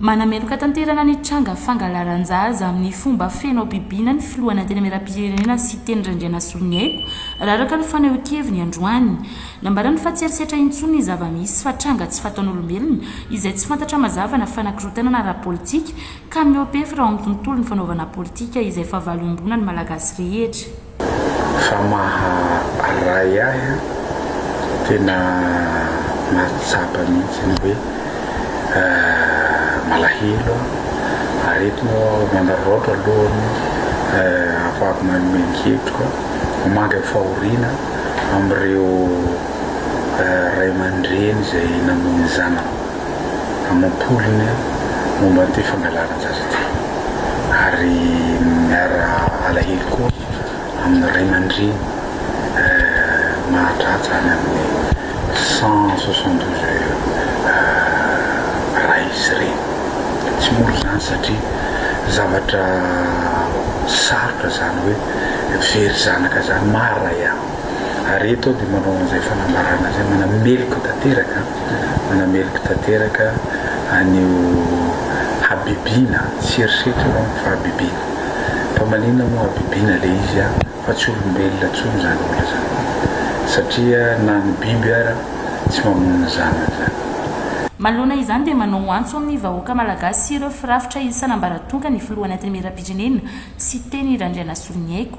Manameloka tanterana ny tranga fangalaran-jaza amin'ny fomba feno habibiana ny filohan'ny Antenimierampirenena Siteny Randrianasoloniaiko, raha araka ny fanehoan-keviny androany. Nambarany fa tsy herisetra intsony ny zava-misy fa tranga tsy fataon'olombelona izay tsy fantatra mazava na fanakirotanana ara-politika ka mihoa-pefy raha ao amin'ny tontolon'ny fanaovana politika izay fahavalomboana ny Malagasy rehetra. Fa maha ray ahy an! Tena mahatsapa mihitsy ny hoe malahelo aho ary eto moa aho manararaotra alohan'ny ahafahako manome ny hevitro an! Mamangy fahoriana amin'ireo ray aman-dreny izay namoy ny zanany. amam-polony momba an'ity fangalaran-jaza ity ary miara alahelo koa amin'ny ray aman-dreny mahatratra any amin'ny cent soixante douze ray sy reny. Tsy mora izany satria zavatra sarotra izany hoe very zanaka izany maha ray ahy. Ary eto aho dia manao an'izay fanambarana izay manameloka tanteraka, manameloka tanteraka an'io habibiana, tsy erisetra aho fa habibiana. Mpamaliana moa habibiana ilay izy an, fa tsy olombelona intsony izany olona izany. Satria na ny biby ara tsy mamono ny zanany izany. Manoloana izany dia manao antso amin'ny vahoaka Malagasy sy ireo firafitra isan'ambaratongany ny Filohan'Antenimierampirenena, Siteny Randrianasoloniaiko,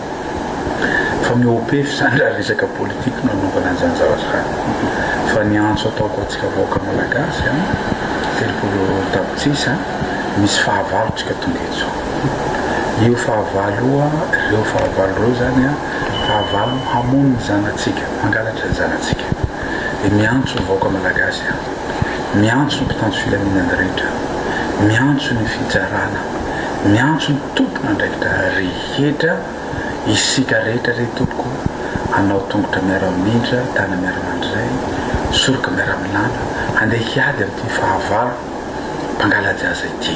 Fa ny OP zany raha resaka politique no anaovana an'izany zavatra izany. Fa ny antso ataoko antsika vahoaka Malagasy an, telopolo tapitrisa misy fahavalo tsika tonga eto. Io fahavalo io an, ireo fahavalo ireo zany an, fahavalo hamono ny zanatsika, mangalatra ny zanatsika. Dia miantso ny vahoaka Malagasy an, miantso ny mpitandro filaminana rehetra, miantso ny fitsarana, miantso ny tompon'andraikitra. Hetra isika rehetra re tompoko anao tongotra miara-mimindra, tana miara-mandray, soroka miara-milana handeha hiady amin'ity fahavalo mpangala-jaza ity.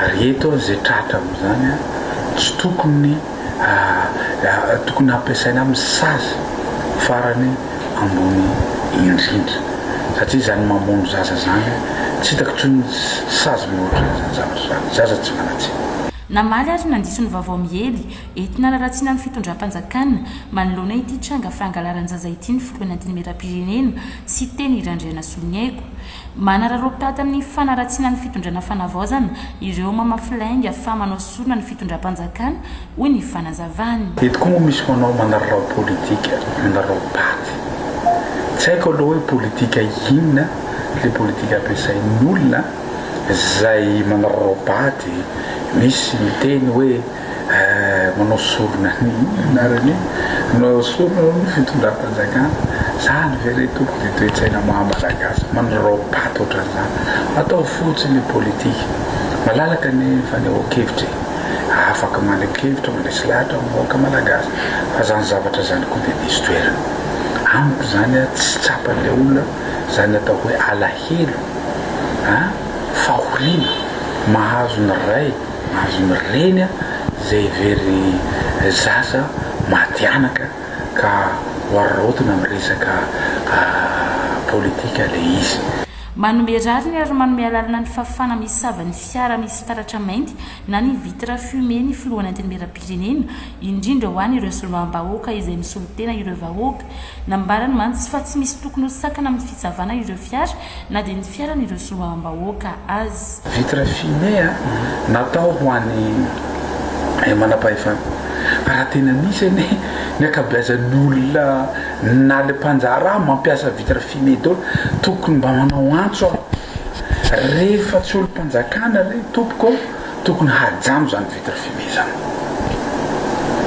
Ary eto izay tratra amin'izany tsy tokony tokony hampiasaina amin'ny sazy farany ambony indrindra satria izany mamono zaza izany tsy hitako intsony sazy mihoatra izany zavatra izany, zaza tsy manan-tsiny. Namaly ary nandiso ny vaovao miely ety Analaratsina ny fitondram-panjakana manoloana ity tranga fangalaran-jaza ity ny filoha antenimieram-pirenena Siteny Randrianasoloniaiko. Manararaotata ny fanaratsiana ny fitondrana fanavaozana ireo mamafy lainga fa manao sorona ny fitondram-panjakana, hoy ny fanazavany. Eto koa moa misy manao manararao politika, manararao paty. Tsy haiko aloha hoe politika inona ilay politika ampiasain'ny olona. zay manao robaty misy miteny hoe eh manao sorona ny inona ary ny inona manao sorona hono ny fitondram-panjakana zany ve re tompoko dia toe-tsaina maha malagasy manao robaty ohatran'izany atao fotsiny ny politika malalaka ny fanehoan-kevitra e afaka maneho kevitra mandresy lahatra ny vahoaka malagasy fa zany zavatra zany koa dia diso toerana amiko zany a tsy tsapan'ilay olona zany atao hoe Heno a! Fahoriana mahazo ny ray mahazo ny reny a! Zay very zaza maty anaka ka wararaotina am resaka politika le izy. Manome rariny ary manome alalana ny fafana misava ny fiara misy fitaratra mainty na ny vitre fumée ny filohan'ny antenimierampirenena, indrindra ho an' ireo soloam-bahoaka izay misolo tena ireo vahoaka. Nambarany mantsy fa tsy misy tokony ho sakana amin'ny fitsavana ireo fiara na dia ny fiaran' ireo soloam-bahoaka aza. Vitre fumée natao ho an'ny manam-pahefana. Raha tena nisy anie ny ankabeazan'ny olona na le mpanjaraha mampiasa vitre fumée daholo tokony mba manao antso aho rehefa tsy olom-panjakana re tompoko. Tokony hajano izany vitre fumée izany.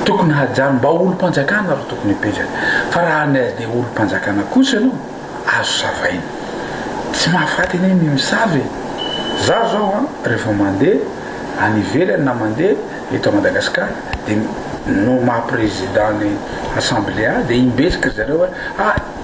Tokony hajano. Mba ho olom-panjakana ro tokony hipetraka. Fa raha any SD ho olom-panjakana kosa ianao, azo savaina. Tsy mahafaty anie ny misava e! Izaho izao an, rehefa mandeha any ivelany na mandeha eto à Madagascar dia no maha président ny assemblea dia imbetsika ry zareo hoe ah!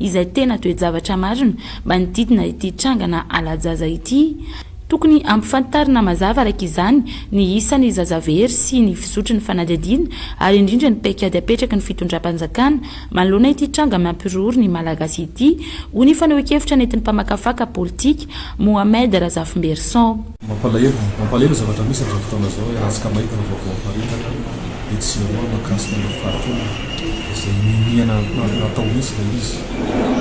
izay tena toe-javatra marina manodidina ity trangana hala-jaza ity. Tokony hampifantarina mazava araka izany ny isan'ny zaza very sy ny fizotry ny fanadihadiana ary indrindra ny paikady apetraky ny fitondram-panjakana manoloana ity tranga mampiroro ny Malagasy ity, hoy ny fanehoan-kevitra nentin'ny mpamakafaka politika, Mohamed Razafimberison. Mampalahelo, mampalahelo ny zavatra misy amin'izao fotoana izao e, raha tsy kamaita ny vaovao miparitaka etsy sy eroa mahakasika ny fariteny izay niniana hatao mihitsy ilay izy,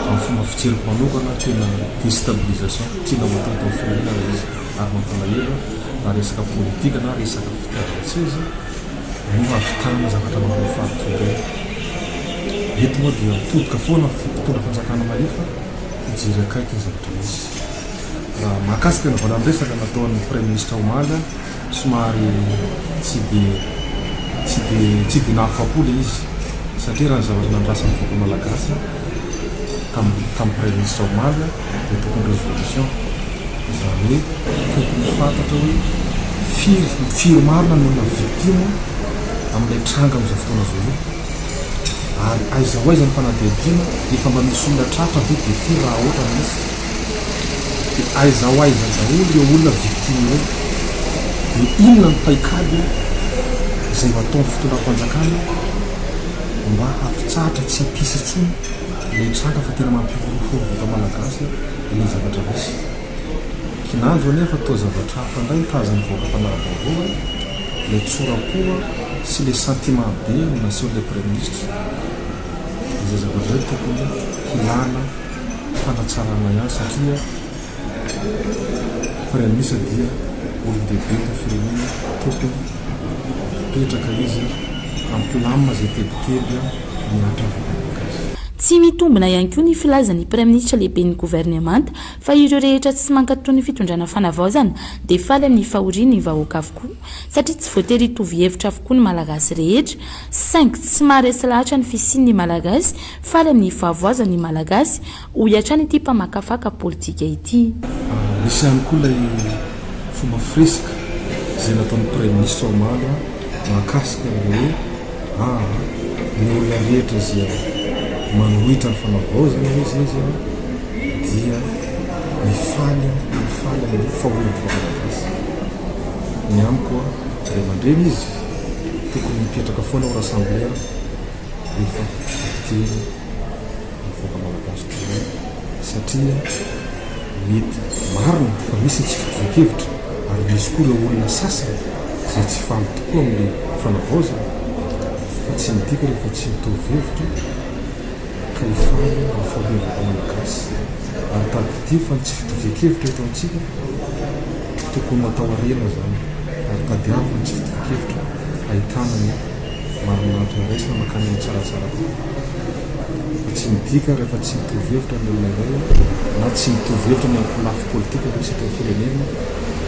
amin'ny fomba fijeriko manokana tena destabilisation tiana ho atao eto amin'ny firenena ilay izy ary mampalahelo na resaka politika na resaka fitiavan-tseza no hahavitana zavatra mahafaritr'ireny eto moa dia mitodika foana mpitondra fanjakana mahefa hijery akaiky ny zavatra misy. Raha mahakasika ny valan-dresaka nataon'ny praiminisitra omaly, somary tsy dia tsy dia tsy dia nahafapo ilay izy satria raha ny zavatra nandrasan'ny vahoaka malagasy tamin'ny tamin'ny praiminisitra omaly dia tokony révolution, izany hoe tokony fantatra hoe firy firy marina no olona victime amin'ilay tranga amin'izao fotoana izao io. ary aiza ho aiza ny fanadihadiana? efa mba misy olona tratra ve de firy raha ohatra ny misy? de aiza ho aiza daholo ireo olona victime ireo? de inona ny paikady izay ho ataon'ny fitondram-panjakana mba hampitsahatra tsy hampisy intsony ilay tranga fa tena mampihorohoro vahoaka malagasy ilay zavatra misy? kinanjo anie fa toa zavatra hafa indray ny tahazan'ny vahoaka mpanara-baovao e! ilay tsora-po sy ilay sentiment be no nasehon'ilay praiminisitra, izay zavatra izay tokony hilana fanatsarana ihany satria praiminisitra dia olon-dehibe eto firenena, tokony hipetraka izy hampilamina izay tebiteby mihatra amin'ny vahoaka azy. Tsy mitombina ihany koa ny filazan'ny praiminisitra lehiben'ny governemanta Fa ireo rehetra tsy mankato ny fitondrana fanavaozana dia faly amin'ny fahorian ny vahoaka avokoa satria tsy voatery hitovy hevitra avokoa ny malagasy rehetra saingy tsy maharesy lahatra ny fisian ny malagasy faly amin'ny fahavoazan ny malagasy hoy hatrany ity mpamakafaka politika ity. Nisy ihany koa ilay fomba firesaka izay nataon'ny praiminisitra omaly mahakasika an'ilay hoe. Aa ny olona rehetra izay manohitra ny fanavaozana hoe izay izao dia mifaly mifaly amin'ny fahorian'ny vahoaka malagasy. Ny amiko an, ray aman-dreny izy tokony mipetraka foana ao rassemblea rehefa very. ny vahoaka malagasy taloha satria mety marina fa misy ny tsy fitovian-kevitra ary misy koa ireo olona sasany izay tsy faly tokoa amin'ny fanavaozana fa tsy midika rehefa tsy mitovy hevitra ka hifaly ny fahorian'ny malagasy ary tadidio fa ny tsy fitovian-kevitra eto amintsika tokony natao harena izany ary tadiavo ny tsy fitovian-kevitra ahitana ny marinahitra iraisana mankany amin'ny tsaratsara Dia tsy midika ary fa tsy mitovy hevitra ny olona iray na tsy mitovy hevitra ny ankolafy politika amin'ny sehatry ny firenena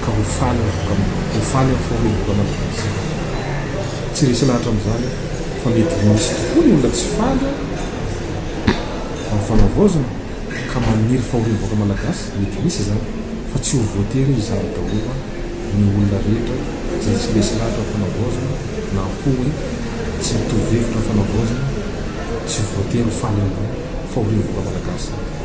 ka ho faly amin'ny faharevoka malagasy. Tsy resy lahatra amin'izany aho fa mety misy tokoa ny olona tsy faly amin'ny fanavaozana ka maniry fahorian'ny vahoaka malagasy, mety misy izany fa tsy ho voatery izany daholo an! ny olona rehetra izay tsy lesy lahatra ny fanavaozana na koa hoe tsy mitovy hevitra ny fanavaozana tsy voatery ho faly amin'izay fahorian'ny vahoaka malagasy izay.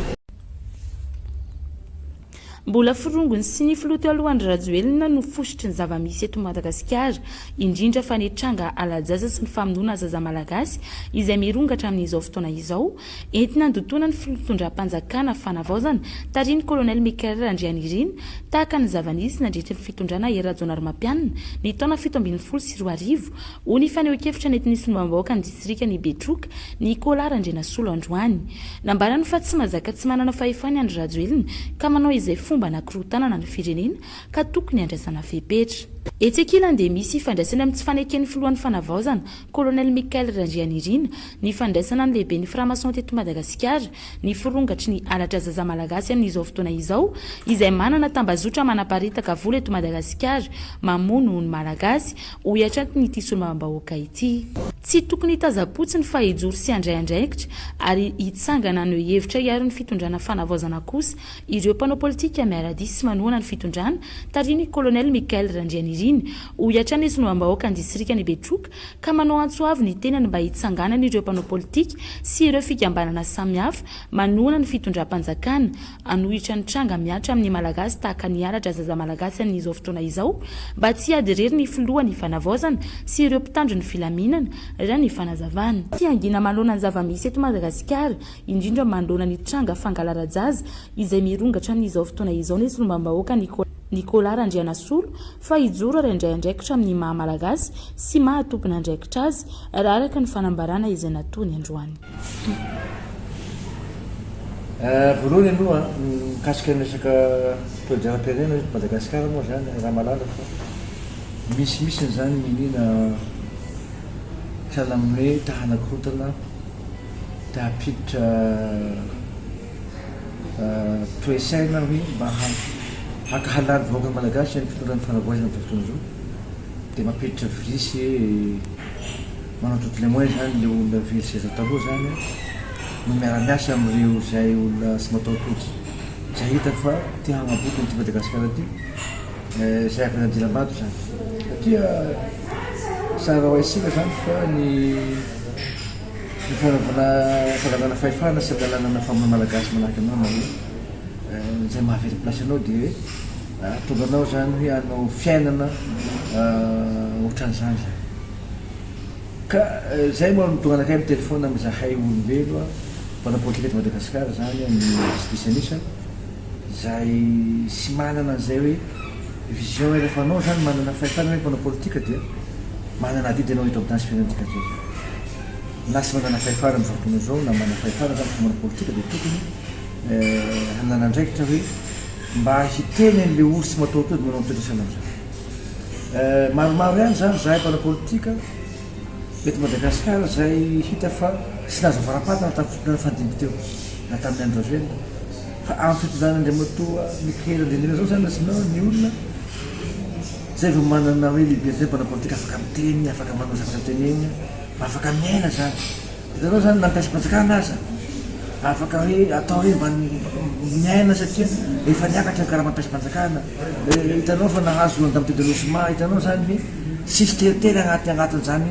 Mbola forongony sy ny filoha teo aloha Andry Rajoelina no fositry ny zava-misy eto Madagasikara, indrindra fa ny tranga hala-jaza sy ny famonoana zaza malagasy izay mirongatra amin'izao fotoana izao, Entina handotoana ny fitondram-panjakana fanavaozana, tarihin'ny Kolonely Michael Randrianirina, tahaka ny zava-nisy nandritry ny fitondrana Hery Rajaonarimampianina, ny taona fito ambin'ny folo sy roa arivo, hoy ny fanehoan-kevitra nentin'ny solombavambahoakan'ny distrikan'i Betroka, Nicolas Randrianasolo androany. Nambarany fa tsy mazaka tsy manana fahefana i Andry Rajoelina ka manao izay fomba hanakorotanana ny firenena ka tokony handraisana fepetra. Etsy ankilany dia misy ifandraisany amin'ny tsy faneken'ny filohan'ny Fanavaozana, Colonel Michael Randrianirina, ny fandraisana ny lehiben'ny franc-maçon teto Madagasikara, ny firongatry ny halatra zaza malagasy amin'izao fotoana izao, izay manana tambazotra manaparitaka vola eto Madagasikara, mamono ny Malagasy, hoy hatrany ity solombavambahoaka ity. Tsy tokony hitazam-potsiny fa hijoro sy handray andraikitra ary hitsangana haneho hevitra hiaro ny fitondrana fanavaozana kosa ireo mpanao politika miara-dia sy manohana ny fitondrana tarihin'ny Colonel Michael Randrianirina, Hoy hatrany ny solombambahoakan'ny distrikan'i Betroka ka manao antso avo ny tenany mba hitsanganany ireo mpanao politika sy ireo fikambanana samihafa manohana ny fitondram-panjakana hanohitra ny tranga mihatra amin'ny Malagasy tahaka ny halatra zaza Malagasy amin'izao fotoana izao mba tsy hiady irery ny filoha ny Fanavaozana sy ireo mpitandro ny filaminana raha ny fanazavana fiangina manoloana ny zava-misy eto Madagasikara indrindra manoloana ny tranga fangalarajaza izay mirongatra amin'izao fotoana izao ny solombambahoaka Nicolas Randrianasolo fa hijoro ary handray andraikitra amin'ny maha Malagasy sy maha tompon'andraikitra azy, raha araka ny fanambarana izay nataony androany. Voalohany aloha, mikasika ny resaka toe-jara-pirenena eto Madagasikara moa izany, raha malaza fa misimisy an'izany ny iniana sahala amin'ny hoe ta-hanakorontana, ta-hampiditra, Toe-tsaina hoe mba haka halal vahoaka malagasy any fitondran'ny fanavoizana amin'izao fotoana izao dia mampiditra virus hoe manao toutes les moyens zany le olona very seza taloha zany an no miara miasa amin'ireo zay olona tsy mataho-tojo zay hitany fa te hagnaboaka an'ity Madagasikara ty zay avy any andilambato zany satria tsara ho haintsika zany fa ny Ny fanagana fanagana fahefana sy andalanana fa maha malagasy manahaka anao na hoe izay maha very place anao dia hoe ahatonga anao zany hoe hanao fiainana otran'izany zany. Ka zay moa no tonga anakay miteny foana amin'izahay olombelo mpanao politika eto Madagasikara zany ny diso disan'isa. izay tsy manana an'izay hoe vision rehefa anao zany manana fahefana hoe mpanao politika dia manana avis dia anao eto am'tany tsy feno an'ity gadra ity na tsy manana fahefana am'zao fotoana zao na manana fahefana zany fa manao politika dia tokony hanana andraikitra hoe mba hiteny an'le olo tsy matahotra eo dia manao ny toetra sahala am'zany maromaro ihany zany zahay mpanao politika eto Madagasikara izay hita fa tsy nahazo am-barapatana tamin'ny fotoana nifandimby teo na tamin'ny andro rajoelina Fa amin'ny fitondrana Andriamatoa Michael Andrianirina zao zany rasinao ny olona zay vao manana hoe liberté mpanao politika afaka miteny, afaka manao zavatra tenenina, mba afaka miaina zany. Hitanao zany na ny mpiasam-panjakana aza afaka hoe atao hoe mba miaina satria efa niakatra ny karaman'ny mpiasam-panjakana, hitanao fa nahazo loan-damaody an'Anosy Maha, hitanao zany hoe tsisy teritery agnaty agnatin'izany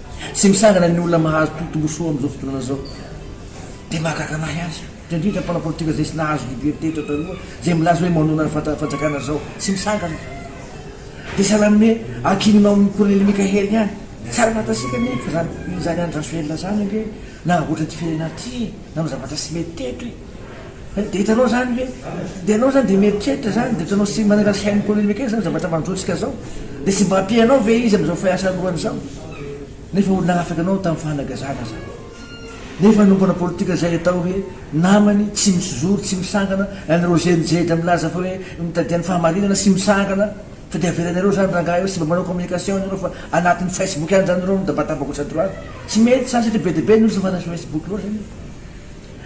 Tsy misahana ny olona mahazo tombontsoa amin'izao fotoana izao. Dia mahagaga an'ahy aza, indrindra indrindra ny mpanao politika izay tsy nahazo liberté eto an-taloha, izay milaza hoe manonona ny fatra fanjakana izao. Tsy misahana. Dia sahala amin'ny hoe ankininao amin'i Kolonely Mickaël ihany. Tsara fantatsika anefa izany, izany Andry Rajoelina izany ange, nanamboatra ity firenena ity e, nanao zavatra tsy mety teto e. Dia hitanao izany ve? Dia ianao izany dia mieritreritra izany, dia ohatranao tsy manala sainy polemika izany zavatra mandrotsaka izao. Dia tsy mba ampianao ve izy amin'izao fiasalohany izao? Nefa olona afaka ianao tamin'ny fanagazana izany. Nefa hanomboana politika izay atao hoe namany tsy misy zoro, tsy misangana, an'i Roger Nijedra milaza fa hoe mitadia ny fahamarinana tsy misangana, fa dia avelanareo izany rangahy eo, tsy mba manao communication ianareo fa anatin'ny facebook ihany izany ianareo midabataba gauche à droite. Tsy mety izany satria be dia be ny olona tsy mankany Facebook loatra nefa.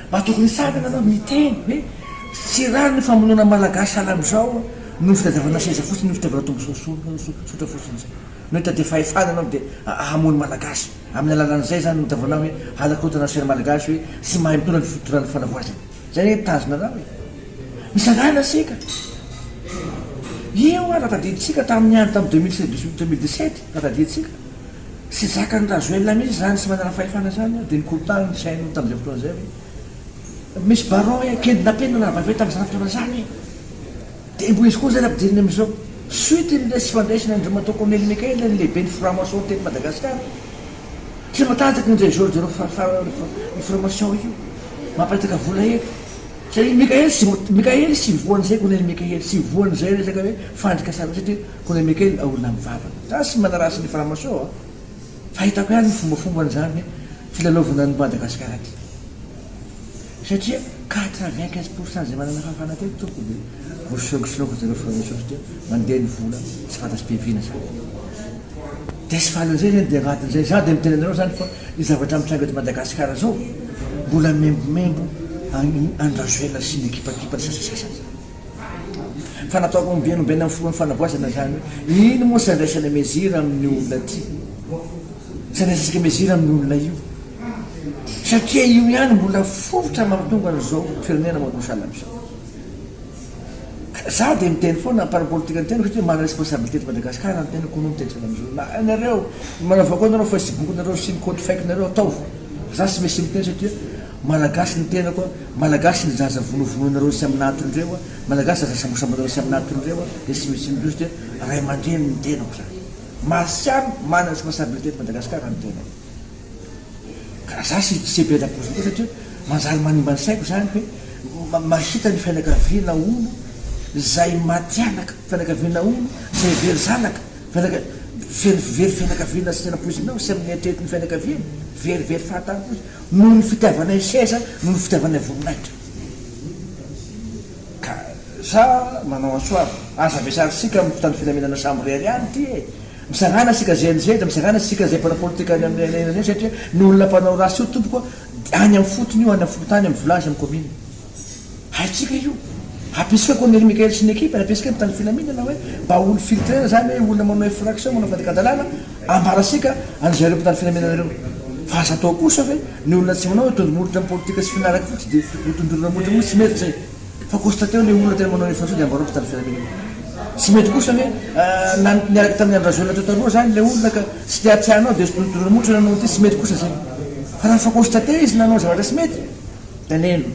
Mba tokony hisakana aloha miteny hoe tsy rariny ny famonoana ny malagasy sahala amizao noho ny fitadiavana seza fotsiny noho ny fitiavana tombotsoa tsotra fotsiny zay no hitadia fahefana anao dia hamono malagasy aminy alalany zay zany hitavanao hoe halakotana ny sainy malagasy hoe tsy mahay mitondra ny fitondrana ny fanavoazana zay anie ny tanjona nao e misarahana isika io ary raha tadidintsika taminy andro taminy deux mille dix huit deux mille dix sept raha tadidintsika. Tsy zakan'i Rajoelina mihitsy izany tsy manana fahefana izany an, dia nikorontaniny ny fihainoany tamin'izay fotoana izay hoe, Misy barao e, kend na penina nahavaivay tamin'izany fotoana izany e! Dia mbo izy koa izay nampidiriny amin'izao. Suite ny resy fandraisany an'i Ramatoa Corneille Mikael ny lehiben'ny franc-maçon teto Madagasikara. Tsy matanjaka io Ndejean Jerôme Farafara io franc-maçon io. Mamparitaka vola eto. Satria Mikael tsy, Mikael tsy voan'izay Corneille Mikael, tsy voan'izay resaka hoe fandrikasana io satria Kone Mikael a olona mivavaka. Za sy manaraha sy ny franc-maçon a! Fahitako ihany ny fombafomban zany filalaovana any Madagascar aty. Satria quatre vingt quinze pour cent zay manana fahafana teto tompoko de vo solokisoloko zareo franc-maçon satria mandeha ny vola tsy fantatry be vina zany. De tsy falin'izay zany de agnatin'izay za de miteny anareo zany fa ny zavatra mitranga eto Madagascar zao mbola maimbomembo an i Andry Rajoelina sy ny ekipakipany sasasasany zany. Fa natao ho nobenombenina amin'ny filohan'ny fanavaozana izany hoe ino moa sandraisana mesure amin'io olona ty? Sandraisasika mesure amin'io olona io satria io ihany mbola fototra mampitonga an'izao firenena manao salama izao. Ka za dia miteny foana par rapport politika no teniko satria manana responsabilité eto Madagascar ny tenako no miteny foana amin'izao. Na ianareo manao vakoanareo facebook-nareo sy ny compte fake-nareo ataovy fa za tsy misy miteny satria. Malagasy ny tenako a, Malagasy ny zaza vonovonoinareo sy amina atony reo a, Malagasy zaza sambosamboinareo sy amina atony reo a, dia tsy misy inona loatra dia ray aman-dreny ny tenako zany. Marsiam, mana responsabilité eto Madagasikara ny tenako. Ka raha za sy se be lakoziny koa satria manjary manimba ny saiko zany hoe ma, mahita ny fianakaviana hono zay maty anaka, fianakaviana hono zay very zanaka, fianaka, very, very fianakaviana tsy tena poizinao sy amin'ny eritreritry ny fianakaviany, very, very fahatany fotsiny. Noho ny fitiavanay seza, noho ny fitiavanay voninahitra. Ka sa manao antsoava, aza ampiasana antsika amin'ny mpitandro filaminana samirery ihany ity e! Misarahana isika GNZ, misarahana isika izay mpanao politika any amin'ny arenan eny satria ny olona mpanao ratsy io tompoko a, any amin'ny fotony io, any amin'ny fokontany, amin'ny village, amin'ny commune. Haintsika io. Ampiasika koa Nely Mickael sy ny ekipany, ampiasika mitandro filaminana hoe mba ho filtrena zany hoe olona manao infraction, manao fandikan-dalàna, ambarasika an'izareo mpitandro filaminana ireo. Fa aza atao kosa hoe ny olona tsy manao hoe tondromolotra amin'ny politika sy finaraka fotsy dia ho tondroina molotra mihitsy, tsy mety zay. Fa constateo le olona tena manao infraction dia ambarao mpitandro filaminana. Tsy mety kosa hoe nan, niaraka tamin'ny Andry Rajoelina teo taloha zany le olona ka tsy te-hatsiahy anao dia tondroina molotra ny anao ity, tsy mety kosa zay. Fa raha efa constaté izy nanao zavatra tsy mety, Alelo.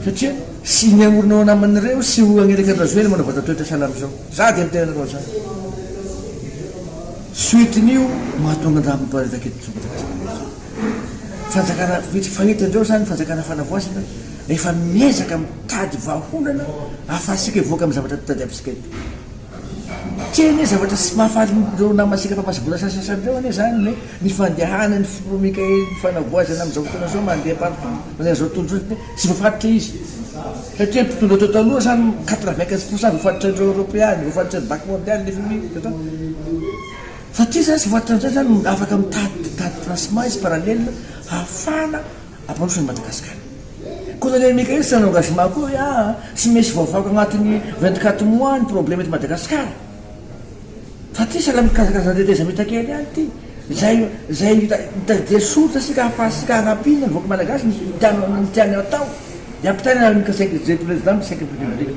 Satria sy ny aorina ao anaman'ireo sy ho agny Rekandra Zoena manao vata toetra sahala amin'izao. Za dia miteny anareo za. Suite-n'io mahatonga andraha miparitaka eto Tsongabe. Fanjakana vitsy fahita indreo zany fanjakana fanavoazana efa miezaka mitady vahaolana afaha-sika hivoaka amin'ny zavatra tadiavintsika eto. Tsy hay anie zavatra tsy mahafaly ireo namantsika mpamasa-bola sasasany ireo anie izany ny hoe ny fandehanan'ny filoha Mickaël ny fanavoazana amin'izao fotoana izao mandeha partout manazao tontolo izao satria tsy voafaritra izy satria ny mpitondra teo taloha samy quatre vingt quinze pourcent voafaritr'ireo eoropeana, voafaritrin'ny banque mondiale, fmi, fa ity izany tsy voafaritra amin'izay izany afaka mitady mitady placement izy parallèle hahafahana Ampandrosoan'i Madagasikara. Colonel Michael sans engagement akory a! Tsy misy voavaky agnatin'ny vingt quatre mois ny problème eto Madagasikara. Fa ty sahala amin'ny karazakarazana tetezamita kely ihany ity. Zay zay mitadidia soritra isika hahafahasika hanampiana ny vahoaka Malagasy ny tiany ny tiany hatao. Ny ampitaina ny armika cinq zay président ny cinq république.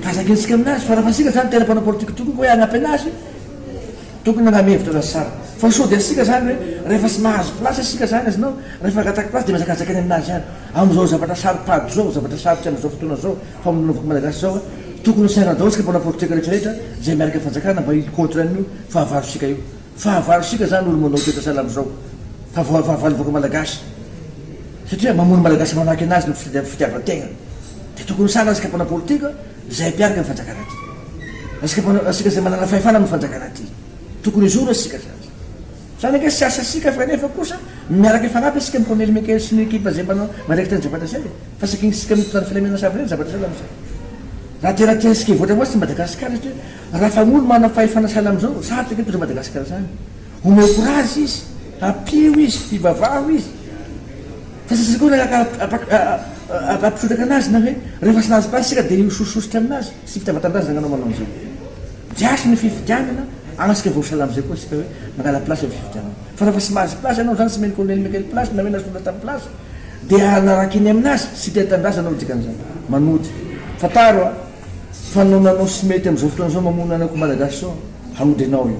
Ka zakentsika aminazy fa raha fa isika zany tena mpanao politique tokoa ka hoe hagnampy anazy, Tokony manana hevitra raha zara fa sao dia isika zany hoe rehefa tsy mahazo place isika zany azonao rehefa hangataky place dia mihazakazakany aminazy ihany amizao zavatra saro-pady zao zavatra sarotra amizao fotoana zao famonoan'vahoaka malagasy zao tokony ho sairana daholo isika mpanao politika retraretra zay miaraka fanjakana mba hi contre an'io fahavarosika io fahavarosika zany olo manao toetra sahala amizao fa vao fahavalon'ny vahoaka malagasy satria mamono malagasy manahaky anazy ny fitiavan-tegna dia tokony ho sairana isika mpanao politika Izay mpiaraka amin'ny fanjakana ity. Asika mpanao, asika izay manana fahefana amin'ny fanjakana ity. Tokony hizoro asika sady. Izany ange tsy asa asika fa nefa kosa miaraka hifanampy asika amin'i Corneille Michael sy ny ekipa izay mpanao miraikitra ny Zavatra Zay e. Fa sakinisika amin'ny mpitandro filaminana sahabo ireny ny Zavatra Zay lamozay. Raha tena tiantsika hivoatra moa tsy Madagasikara satria raha fa olo manana fahefana sahala amin'izao, sarotra ange hitondra Madagasikara izany. Omeo courage izy, ampio izy, hivavaho izy. Fa sasany koa nanaraka ampitrotraka anazy na hoe rehefa tsy nahazo place isika dia hihosososotra aminazy. Tsy fitiava tandazana anao manao an'izao. Diaso ny fifidianana ary isika voasala amizay koa isika hoe mangala place am fifidianana. Fa rehefa tsy mahazo place anao zany tsy omen'ny colonel Michael place na hoe nasolo tam place dia hanaraka eny aminazy. Tsy tia tandazana aho dikan'izany. Manody. Fantaro a! Fa nanao tsy mety amizao fotoana zao mamono anako malagasy zao, haody anao io.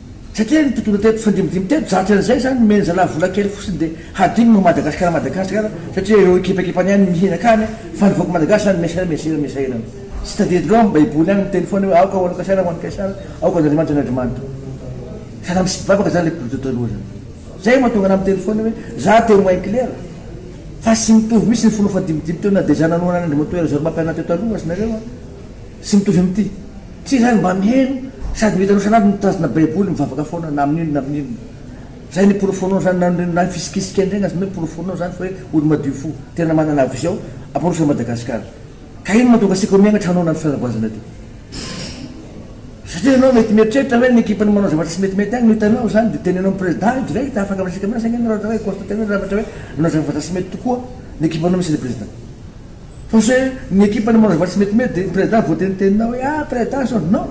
Satria ny tokony hatao mifandimidimby teto zatra an'izay izany nomeny zalahy vola kely fotsiny dia hadinony moa Madagascar Madagascar satria ireo ekipakipany ihany no mihena akany fa ny vahoaka Malagasy izany miasera miasera miasa ela no tsy tadidy loha amin'ny baiboly ihany miteny foana hoe aoka ho an'i Kaisara ho an'i Kaisara aoka an'Andriamanitra ny Andriamanitra zalahy misy mpivavaka izany ilay boky taloha izany izay no mahatonga anah miteny foana hoe za teo mahay klera fa tsy mitovy mihitsy ny fomba fandimidimby teo na dia za nanohana an'Andriamatoa Herzor Mapinah teo taloha aza nareo an Tsy mitovy amin'ity. Tsy izany mba miheno sady mihitanao sanaby mitazona baiboly mivavaka foana na amin'inona na amin'inona. Zay ny porofonao zany na ny na fisikisika ndray aza porofonao zany fa hoe olo madio fo tena manana vision aporofo an'i Madagascar. Ka ino mahatonga asika ho miangatra hanao an'ty fanaboazana ty? Satria enao mety mieritreritra hoe ny ekipan'ny manao zavatra tsy metimety agny no hitanao zany de teneno amin'ny president io direct afaka miresaka aminazy ange enao raha ohatra hoe constater-nao raha ohatra hoe nanao zavatra tsy mety tokoa ny ekipanao misy an'i president. Parce que ny ekipa ny manao zavatra tsy metimety dia ny président voatenitenina hoe ah président zao non!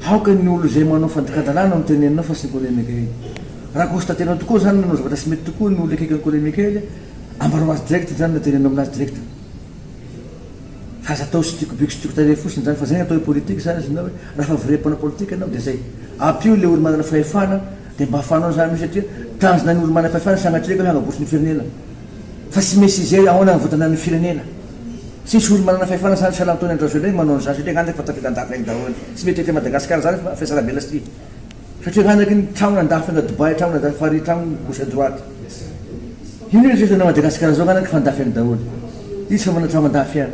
Aoka ny olona izay manao fandikan-dalàna no teneninao fa tsy ny Colonel Mickael. Raha constater-nao tokoa izany nanao zavatra tsy mety tokoa ny olona akaiky an'i Colonel Mickael, ambarao azy direct izany na teneno aminazy direct. Fa aza atao tsy tiako be ko tsy tiako tarehy fotsiny izany fa izay no atao hoe politique zany izy na hoe raha efa vrai mpanao politique ianao dia izay. Ampio ilay olo manana fahefana. Dia mba fanao izany io satria tanjona ny olo-manam-pahefana sanatria ka hanabotra ny firenena. Fa tsy misy izay hoe ahoana ny votana ny firenena. Tsy misy olo-manana fahefana sahala sahala amin'itony Andry Rajoelina manao an'izany satria angamba efa tafiadan-dafy any daholo. Tsy mety ety Madagasikara izany fa fiasana be lasty. Satria angamba aky ny trano an-dafy na Dubai trano na Paris trano gauche à droite. Io no iresahan'ny Madagasikara izao angamba efa an-dafy any daholo. Iza tsy mba manana trano an-dafy any.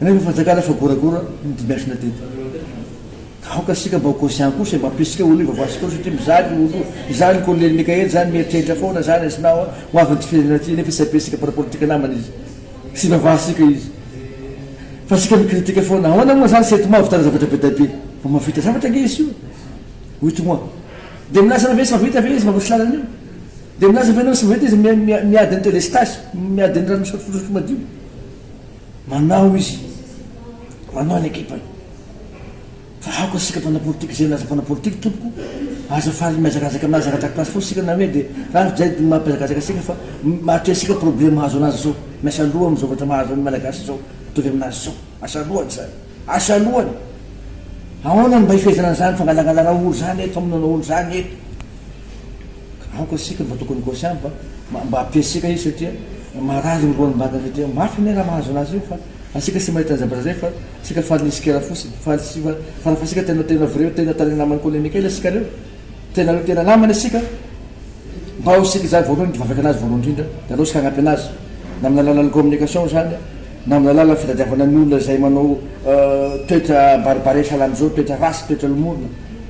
Rehefa fanjakana efa goragora ny dimension teto. Ka aoka isika mba ho conscient kosa e, mampirisika olo hivaovaha antsika koa satria mizaka olo io. Izany ny Kolonely Mikaely zany mieritreritra foana zany izy na ho avin'ity firenena ty nefa tsy ampirisika mpanao politika namany izy. Tsy hivavahasika izy. Fa isika mi-critique foana. Ahoana moa zany Sety Mao vitana zavatra be dia be? Mba mahavita zavatra ange izy io. Wito moi. Dia milaza anao ve izy fa vita ve izy mba misy lalana io? Dia milaza ve anao izy fa vita izy miady ny delestage, miady ny rano misotro madio? Manao izy, manao ny ekipany. Fa aoka isika mpanao politika izay nilaza mpanao politika tompoko, aza faly mihazakazaka aminazy ara-drakilasy foana isika na hoe dia raha izay dia mampihazakazaka antsika fa mahatrea antsika problème mahazo anazy izao. Miasa loha amin'ny zavatra mahazo ny Malagasy izao, mitovy aminazy izao. Asa loha izany. Asa alohany, ahoana no mba hifehezana an'izany fangalangalarao ory izany eto, famonoana ory izany eto? Ka aoka isika mba tokony conscient mba mba mba ampiasika izy satria marary ny roan'ny mbadiny satria mafy anie raha mahazo an'azy io fa asika tsy mahita ny zavatra izay fa asika faly ny sikera fotsiny, faly tsy fa fa rafa asika tena tena vrai tena tena namany colonikely asika reo, tena hoe tena namany asika, mba ho isika izany voalohany mivavaka an'azy voalohany indrindra dia aleo isika hagnampy an'azy na amin'ny alalan'ny communication izany. na amin'ny alalan'ny fitadiavana ny olona izay manao toetra barbares halan'izao, toetra ratsy, toetra lomorina,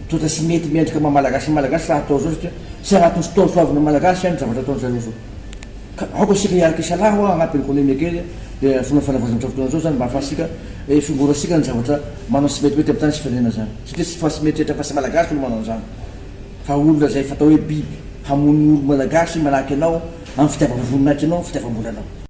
toetra tsy mety mendrika maha Malagasy ny Malagasy raha atao izao satria tsy anatin'ny fotoana soavin'ny Malagasy ihany ny zavatra ataon'ny zareo izao. Ka aoka isika hiaraka hisalahy hoa hanampy an'i Koleme kely dia vonona fanavaozana amin'izao fotoana izao izany mba hahafahantsika hisongorantsika ny zavatra manao ny tsy metimety amin'ny tany sy firenena izany satria tsy fa tsy mieritreritra fa tsy Malagasy no manao an'izany fa olona izay fatao hoe biby hamono ny olo-Malagasy manahaka ianao amin'ny fitiavam-boninahitra anao, fitiavam-bolanao.